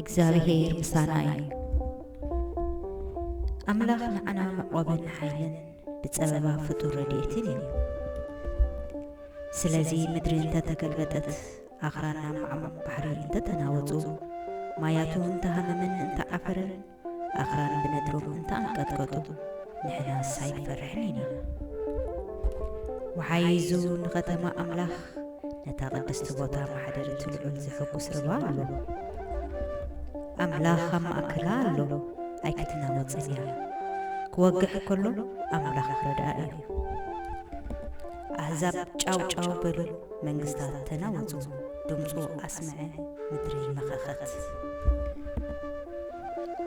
እግዚኣብሄር ምሳና እዩ። ኣምላኽ ንዓና መዕቆብን ሓይልን ብጸበባ ፍጡር ረድኤትን እዩ። ስለዚ ምድሪ እንተ ተገልበጠት፣ ኣኽራን ናብ ማዕሙቕ ባሕሪ እንተ ተናወጹ፣ ማያቱ እንተ ሃመመን እንተ ዓፈረን፣ ኣኽራን ብነድሮም እንተ ኣንቀጥቀጡ ንሕናስ ኣይንፈርሕን ኢና። ወሓይዙ ንኸተማ ኣምላኽ ነታ ቅድስቲ ቦታ ማሕደርቲ ልዑል ዘሕጉስ ርባ ኣሎ። ኣምላኽ ኣብ ማእከላ ኣሎ ኣይክትናወጽን እያ። ክወግሕ ከሎ ኣምላኽ ረዳኢ እዩ። ኣህዛብ ጫው ጫው በሉ መንግስታት ተናወጹ ድምጹ ኣስመዐ ምድሪ መኸኸት።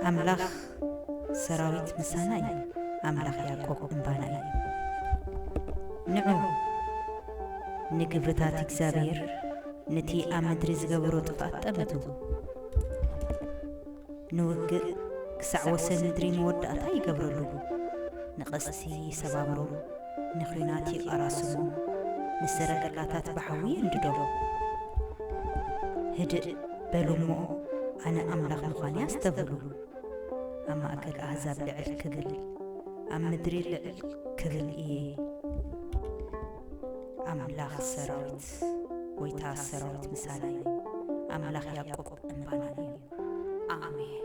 ኣምላኽ ሰራዊት ምሳና እዩ ኣምላኽ ያእቆብ እምባና እዩ። ንዑ ንግብርታት እግዚኣብሄር ንቲ ኣብ ምድሪ ዝገበሮ ጥፍኣት ጠመቱ። ንውግእ ክሳዕ ወሰን ምድሪ መወዳእታ ይገብረሉ። ንቐስቲ ይሰባብሮ፣ ንኲናት ይቐራስሞ፣ ንሰረገላታት ብሓዊ የንድዶም። ህድእ በሉ'ሞ ኣነ ኣምላኽ ምዃነይ ኣስተብህሉ። ኣብ ማእከል ኣህዛብ ልዕል ክብል፣ ኣብ ምድሪ ልዕል ክብል እየ። ኣምላኽ ሰራዊት። ዮሐንስ ጎይታ ሰራዊት ምሳና እዩ ኣምላኽ ያቆብ እምባና እዩ ኣሜን።